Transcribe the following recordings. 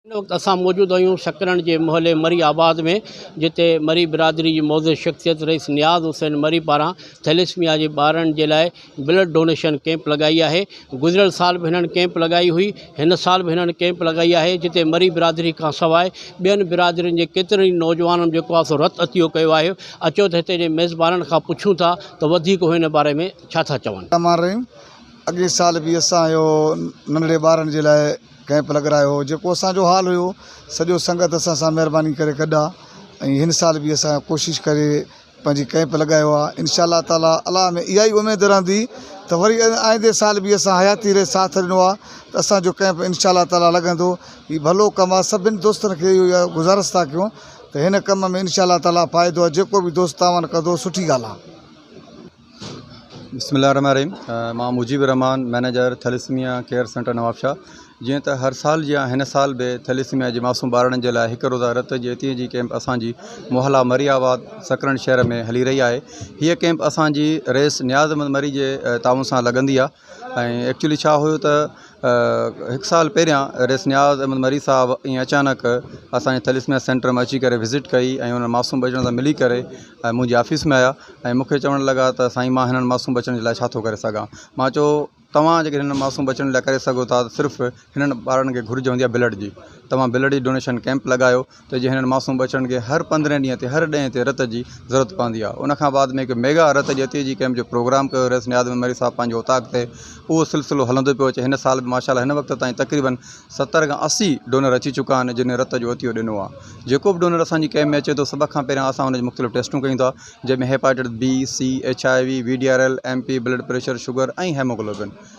هن وقت اسان موجود آهيون سڪرنڊ جي محلي مري آباد ۾ جتي مري برادري جي معزز شخصيت رئيس نياز حسين مري پاران ٿيليسميا جي ٻارڙن جي لاء بلڊ ڊونيشن ڪيمپ لڳائي آهي گذريل سال به هنن ڪيمپ لڳائي هئي هن سال به هنن ڪيمپ لڳائي آهي جتي مري برادري کان سواء ٻين برادرين جي ڪيترن ئي نوجوانن جيڪو آهي سو رت عطيو ڪيو آهي اچو ته هتي جي ميزبانن کان پڇون ٿا ته وڌيڪ هو هن باري ۾ ڇا ٿا چون. الرحمان الرحيم اڳئين سال به اسان اهو ننڍڙي ٻارن جي لاء ڪيمپ لڳرايو هو جيڪو اسان جو حال هيو سڄو سنگت اسان سان مهرباني ڪري گڏ آ ۽ هن سال به اسان ڪوشش ڪري پنهنجي ڪئمپ لڳايو آهي انشاء الله تعالٰي الله ۾ اها ئي اميد رهندي ته وري آئندي سال به اسان حياتي ري ساٿ ڏنو آهي ته اسانجو ڪئمپ انشاء الله تعالٰي لڳندو هي ڀلو ڪم آهي سڀني دوستن کي اهو ئي گذارش ٿا ڪيون ته هن ڪم ۾ انشاء الله تعالٰي فائدو آهي جيڪو به دوست تعاون ڪندو سٺي ڳالهه آهي بسم الله الرحمٰن الرحيم مان Mujib ur-Rahman manager thalassemia care centre Nawabshah جيئن ته هر سال جيان هن سال به ٿيليسميا جي معصوم ٻارڙن جي لاء هڪ روزه رت جي عطيي جي ڪئمپ اسان جي محلا مري آباد سڪرنڊ شهر ۾ هلي رهي آهي هيء ڪئمپ اسان جي رئيس نيازمند مري جي تعاون سان لڳندي آهي ۽ ايڪچولي ڇا هيو ته هڪ سال پهريان رئيس نياز احمد مري صاحب ائين اچانڪ اسان جي ٿيليسميا سينٽر ۾ اچي ڪري وزٽ ڪئي ۽ انهن معصوم ٻچڙن سان ملي ڪري ۽ منهنجي آفيس ۾ آيا ۽ مون کي چوڻ لڳا ته سائين ما هنن معصوم ٻچڙن جي لاء ڇا ٿو ڪري سگهان ما چيو توهان جيڪڏهن هنن معصوم ٻچڙن جي لاء ڪري سگهو ٿا ته صرف هنن ٻارڙن کي گهرج هوندي آهي بلڊ جي توهان بلڊ جي ڊونيشن ڪئمپ لڳايو ته جي هنن معصوم ٻچڙن کي هر پندرهين ڏينهن تي هر ڏهين تي رت جي ضرورت پوندي آهي ان کان بعد ۾ هڪ ميگا رت جتي جي ڪئمپ جو پروگرام ڪيو رئيس نياز محمد مري صاحب پنهنجي اوطاق تي اهو سلسلو هلندو پيو اچي هن سال به ماشاء الله هن وقت تائين تقريبا ستر کان اسي ڊونر اچي چڪا آهن جنهن رت جو عطيو ڏنو آهي جيڪو به ڊونر اسان جي ڪئمپ ۾ اچي ٿو سڀ کان پهريان اسان ان جي مختلف ٽيسٽون ڪيون ٿا جنهن ۾ hepatitis B C H I V V D R L M P blood pressure sugar ۽ haemoglobin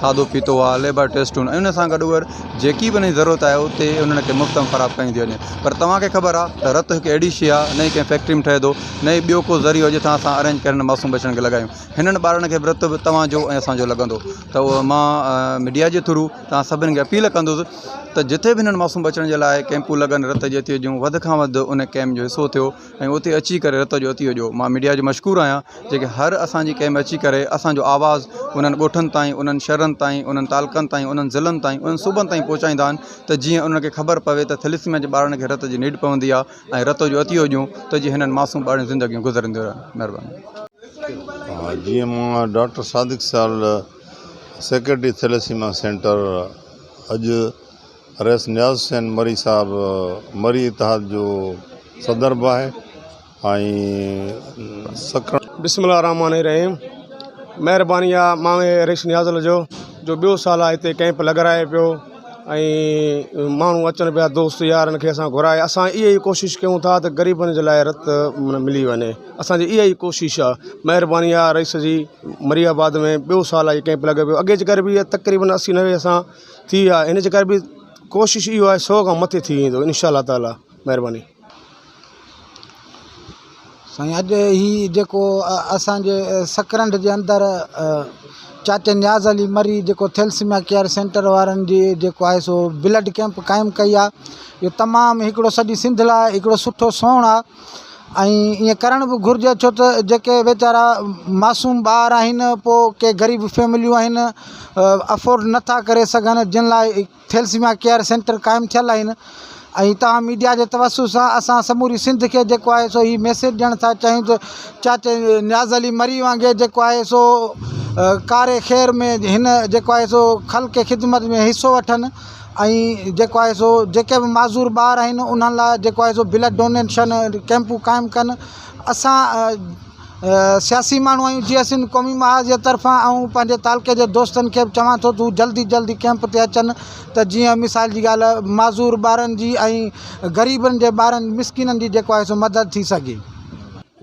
کاڌو پيتو آهي ليبر ٽيسٽون ۽ ان سان گڏ اهر جيڪي به انهن جي ضرورت آهي اتي انهن کي مفت ۾ فراهم ڪئي ٿي وڃي پر توهان کي خبر آهي ته رت هڪ اهڙي شي آهي نه ئي ڪنهن فيڪٽري ۾ ٺهي ٿو نه ئي ٻيو ڪو ذريعو جتان اسان ارينج ڪري هنن معصوم ٻچڙن کي لڳايون هنن ٻارڙن کي به رت به توهان جو ۽ اسان جو لڳندو ته اهو مان ميڊيا جي ٿرو توهان سڀني کي اپيل ڪندس ته جتي به هنن معصوم ٻچڙن جي لاء ڪيمپون لڳن رت جي ٿيو جون وڌ کان وڌ ان ڪيمپ جو حصو ٿيو ۽ اتي اچي ڪري رت جو عطيو ڏيو مان ميڊيا جو مشڪور آهيان جيڪي هر اسان جي ڪئمپ ۾ اچي ڪري اسان جو آواز انهن ڳوٺن تائين انهن شھرن تائين انهن تعلقن تائين انهن ضلعن تائين انهن صوبن تائين پهچائيندا آهن ته جيئن انهن کي خبر پوي ته ٿيليسميا جي ٻارڙن کي رت جي نيڊ پوندي آهي ۽ رت جو عطيو ڏيون ته جيئن هنن معصوم ٻارڙن جون زندگيون گذرنديون رهن مھرباني. جيئن مان ڊاڪٽر صادق سال سيڪريٽري ٿيليسيما سينٽر اڄ رئيس نياز حسين مري صاحب مري اتحاد جو صدر به آهي ۽ سکڻ. بسم الله الرحمٰن الرحيم مهرباني آ ماوي رئيس نياز لجو جو ٻيو سال آ هتي ڪئمپ لڳرائي پيو ۽ ماڻهو اچن پيا دوست يار ان کي اسان گهرائي اسان اهي ئي ڪوشش ڪيون ٿا ته غريبن جي لاء رت من ملي وڃي اسان جي اهي ئي ڪوشش آ مهرباني آ رئيس جي مري آباد ۾ ٻيو سال آ هي ڪئمپ لڳي پيو اڳي چڪر به تقريبن اسي نوي اسان ٿي ويا ان جي ڪري به ڪوشش اهو آهي سو کان مٿي ٿي ويندو ان شاء الله تعالٰي مهرباني سائين اڄ هي جيڪو اسانجي سڪرنڊ جي اندر چاچي نياز علي مري جيڪو ٿيلسميا ڪيئر سينٽر وارن جي جيڪو آهي سو بلڊ ڪيمپ قائم ڪئي آهي اهو تمام هڪڙو سڄي سنڌ لاء هڪڙو سٺو سونهن آهي ۽ ايئن ڪرڻ به گهرجي ڇو ته جيڪي ويچارا معصوم ٻار آهن پوء ڪي غريب فيمليون آهن افورڊ نٿا ڪري سگهن جن لاء ٿيلسميا ڪيئر سينٽر قائم ٿيل آهن ۽ تاهم ميڊيا جي توسط سان اسان سموري سنڌ کي جيڪو آهي سو هي ميسيج ڏيڻ ٿا چاهيون ته چاچي نياز علي مري وانگي جيڪو آهي سو ڪاري خير ۾ هن جيڪو آهي سو خلق خدمت ۾ حصو وٺن ۽ جيڪو آهي سو جيڪي به معذور ٻار آهن انهن لاء جيڪو آهي سو بلڊ ڊونيشن ڪيمپون قائم ڪن اسان سياسي ماڻهو آهيون جي اسين قومي محاذ جي طرفان آئون پنهنجي تعلقي جي دوستن کي به چوان ٿو تون جلدي جلدي ڪيمپ تي اچن ته جيئن مثال جي ڳالهه معذور ٻارن جي ۽ غريبن جي ٻارن مسڪينن جي جيڪو آهي سو مدد ٿي سگهي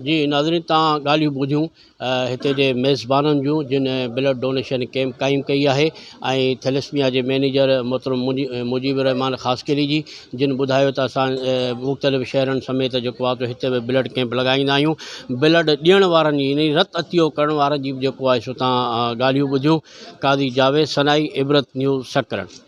جي ناظرين تان ڳالهيون ٻڌيون هتي جي ميزبانن جون جن بلڊ ڊونيشن ڪيمپ قائم ڪئي آهي ۽ ٿيلسميا جي مئنيجر محترم مجيب الرحمان خاصخيلي جي جن ٻڌايو ته اسان مختلف شهرن سميت جيڪو آهي سو هتي به بلڊ ڪيمپ لڳائيندا آهيون بلڊ ڏيڻ وارن جي يعني رت عطيو ڪرڻ وارن جي به جيڪو آهي سو تان ڳالهيون ٻڌيون قاضي جاويد سنائي عبرت نيوز سڪرنڊ